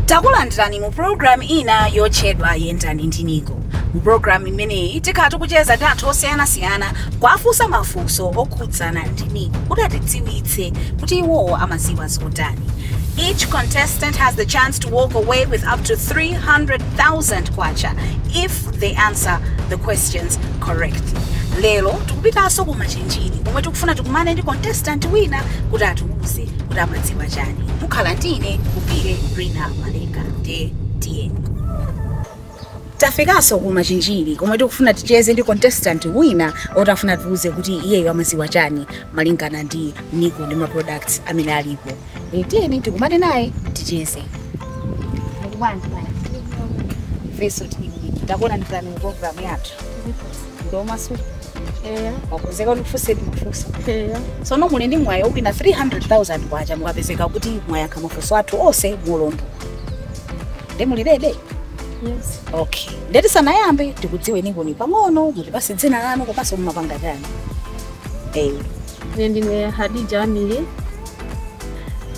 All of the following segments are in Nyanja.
takulandirani mu pulogalamu ina yotchedwa yendani ndi niko mu pulogalamu imeneyi tikhala tikucheza ndi anthu osiyanasiyana kuwafunsa mafunso okhudzana ndi niko kuti atidziwitse kuti iwowo amadziwa zotani Each contestant has the chance to walk away with up to 300,000 kwacha if they answer the questions correctly. Lero tikupitanso ku Machinjiri komwe tikufuna tikumane ndi contestant wina kuti atiuze kuti amadziwa chani. Mukhala ndi ine Ulupire Rina Malenga nde tiyeni. Tafikanso ku Machinjiri komwe tikufuna ticheze ndi contestant wina oti tifuna atiuze kuti iyeyo amadziwa chani malingana ndi Niko ndi ma products amene alipo. E, tiyeni tikumane naye ticheze. Muli bwanji bwana? Ifeso tili bwino. Takulandirani mu program yathu. Ndi omasuka Eya, mwakonzeka tikufunseni mafunso. eya. Sono muli ndi mwayi owina 300,000 kwacha mukapezeka kuti mwayankha mafunso athu onse molondola. nde muli ready Yes. okay nde tisanayambe tikudziweni nkoni pang'ono mutipatse dzina lanu komanso mumapanga chani eh Ine ndine Hadija Amiri.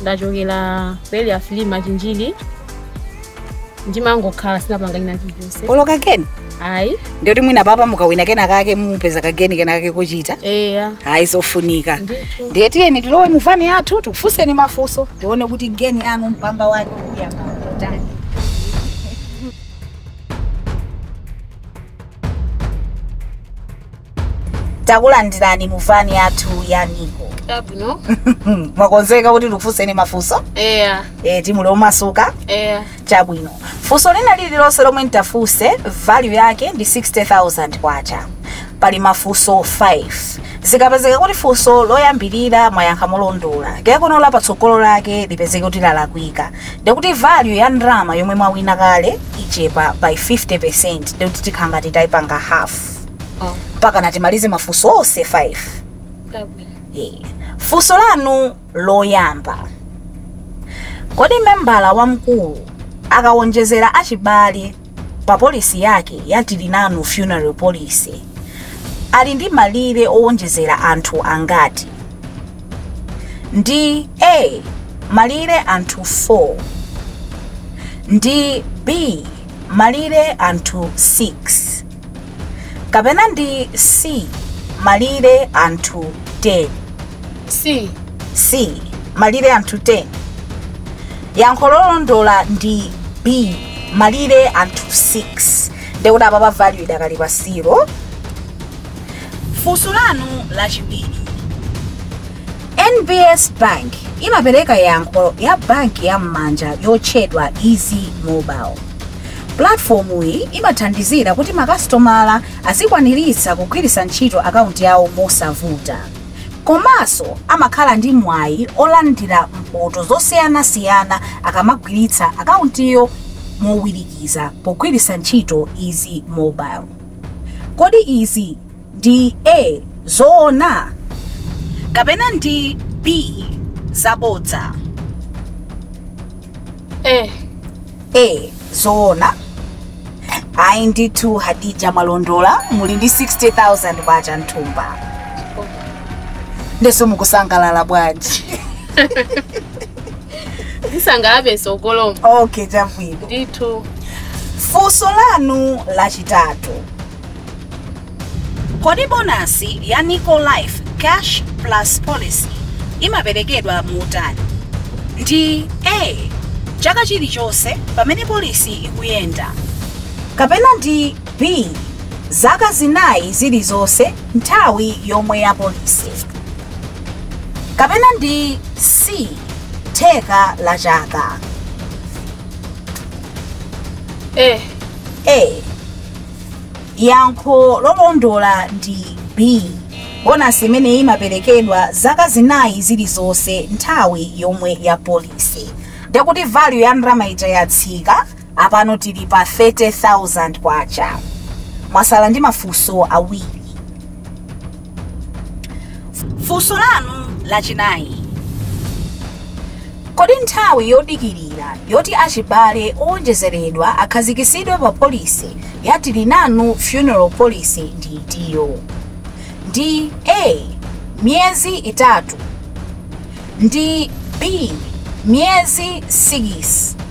Ndachokera ku Area five Machinjiri. Ndimangokhala sindipanga china chilichonse. olo kageni ayi ndiye kuti mwina apapa mukawina kena kake mupeza kageni kena kake kochita eya ayi zofunika Ndithu. ndiye tiyeni tilowe muvani yathu tikufunseni mafunso tione kuti geni yanu mpamba wake uyamba kutani takulandirani mu vani yathu ya niko Chabwino. mwakonzeka kuti ndikufunseni mafunso Eya. e, nde muli omasuka Eya. chabwino funso lina lililonse lomwe nditafunse value yake ndi 60000 kwacha pali mafunso 5 zikapezeka kuti funso loyambirira mwayankha molondola kenako la patsogolo lake lipezeka kuti lalakwika ndikuti value ya ndalama yomwe mwawina kale ichepa by 50 ndikuti tikhala ngati tayipanga half Oh, mpaka na timalize mafunso onse 5 chabwino. Eh, funso lanu loyamba kodi membala wamkulu akawonjezera achibale pa polisi yake ya tilinanu funeral policy ali ndi malire owonjezera anthu angati ndi a malire anthu 4 ndi b malire anthu 6 kapena ndi C malire anthu 10? C. C malire anthu 10. Yankho lolondola ndi B malire anthu 6. Ndiye kuti apa value idakali pa 0. Funso lanu lachiwiri. NBS Bank imapereka yankho ya banki ya m'manja yotchedwa Easy Mobile. Pulatifomuyi imathandizira kuti makasitomala azikwaniritsa kugwiritsa ntchito akaunti yawo mosavuta. Komanso amakhala ndi mwayi olandira mphoto zosiyanasiyana akamagwiritsa akauntiyo mowirikiza pogwiritsa ntchito Easy Mobile. Kodi izi ndi A, zoona kapena ndi B, zabodza? A. A, zoona ayi ndithu hadija mwalondola muli ndi 60000 kwacha m'thumba ndiyenso mukusangalala bwanji Ndisangalala kutsogoloku. okay chabwino Ndithu. funso lanu lachitatu kodi bonasi ya nico life cash plus policy imaperekedwa motani ndi a chaka chilichonse pamene polisi ikuyenda kapena ndi b zaka zinayi zilizonse nthawi yomwe ya polisi kapena ndi c theka la chaka e a Yankho lolondola ndi B. Bonasi imeneyi imaperekedwa zaka zinayi zilizonse nthawi yomwe ya polisi. Ndiye kuti value ya ndalama ija yatsika, apano tili pa 30,000 kwacha. Mwasala ndi mafunso awiri. funso lanu lachinayi kodi nthawi yodikirira yoti achibale owonjezeredwa akhazikitsidwe pa polisi ya tilinanu funeral policy ndi itiyo ndi a miyezi itatu ndi b miyezi 6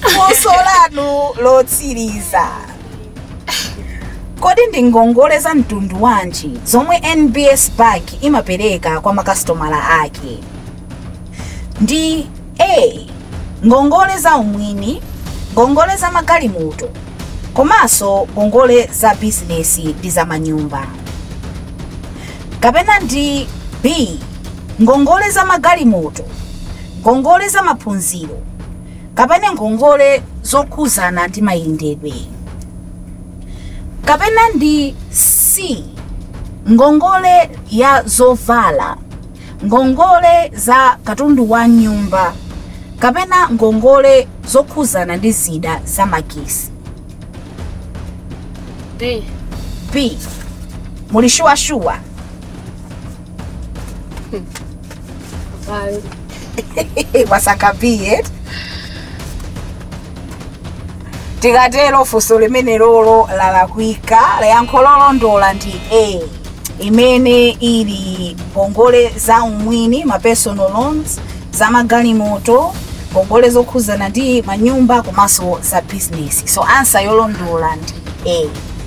funso lanu lotsiriza kodi ndi ngongole za mtundu wanji zomwe nbs bank imapereka kwa makasitomala ake ndi a ngongole za umwini ngongole za magalimoto komanso ngongole za bizinesi ndi za manyumba kapena ndi b ngongole za magalimoto ngongole za maphunziro kapena ngongole zokhuzana ndi mayendedwe kapena ndi c ngongole ya zovala ngongole za katundu wa nyumba kapena ngongole zokhuzana ndi zida za magesi b muli shuwashuwa mwasankha b tikatero funso limene lolo lalakwika yankho lolondola ndi a imene ili ngongole za umwini ma personal loans za magalimoto ngongole zokhuzana ndi manyumba komanso za bizinesi so ansa yolondola ndi a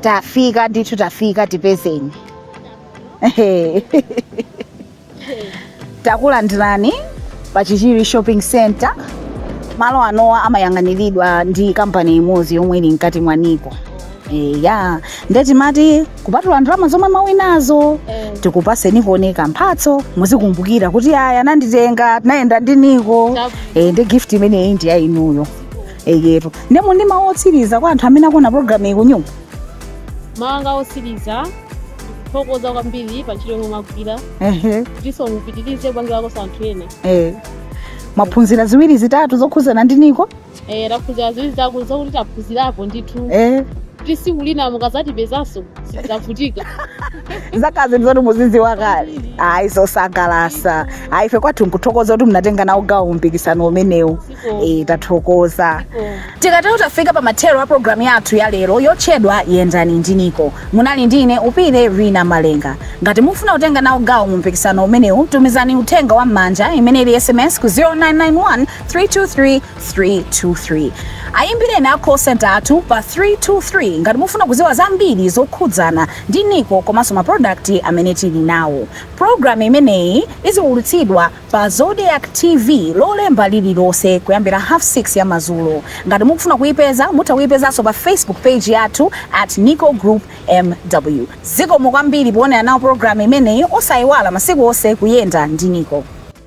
tafika ndithu tafika tipezeni Ehe. takulandirani pa chichiri shopping center malo anowa amayang'aniridwa ndi kampani imodzi yomwe ili mkati mwa niko eya nde timati kupatula ndalama zomwe mwawinazo tikupaseni konkuno mphatso muzikumbukira kuti ayi ananditenga tinayenda ndi niko e, ndi gift imeneyi ndi ya inuyo eyetu nde muli ndi mawu otsiriza kwa anthu amene akuona programu iyi kunyumba mawu anga osiriza ndikuthokoza kwambiri pa ntchito yomwe mwagwira ehe ndiso mupitirize kupangirakoso anthu ena e. mwaphunzira ziwiri zitatu zokhuzana ndi niko Eh, taphunzira zambiri zake zokuti taphunzirapo ndithu eh kuti siku lina mukazatipezanso sizavutika zikhala zinthu zoti muzidziwa kale ayi zosangalatsa ayi ife kwathu nkuthokoza kuti munatenga nawo gawo mumpikisano umenewu eh tathokoza tikatero tafika pa mathero a programu yathu ya lero yotchedwa yendani ndi niko munali ndi ine upile lina malenga ngati mufuna kutenga nawo gawo mu mpikisano umenewu tumizani uthenga wa m'manja imene ili sms ku 0991 323 323 ayimbireni a call center athu pa 323 ngati mufuna kuziwa zambiri zokhudzana ndi niko komanso ma product amene tili nawo program imeneyi iziwulutsidwa pa zodiak tv lolemba lililonse kuyambira half 6 ya mazulo ngati mukufuna kuyipeza mutha kuyipezanso pa facebook page yathu at nico group mw zikomo kwambiri poonera nawo program imeneyi osayiwala masiku onse kuyenda ndi niko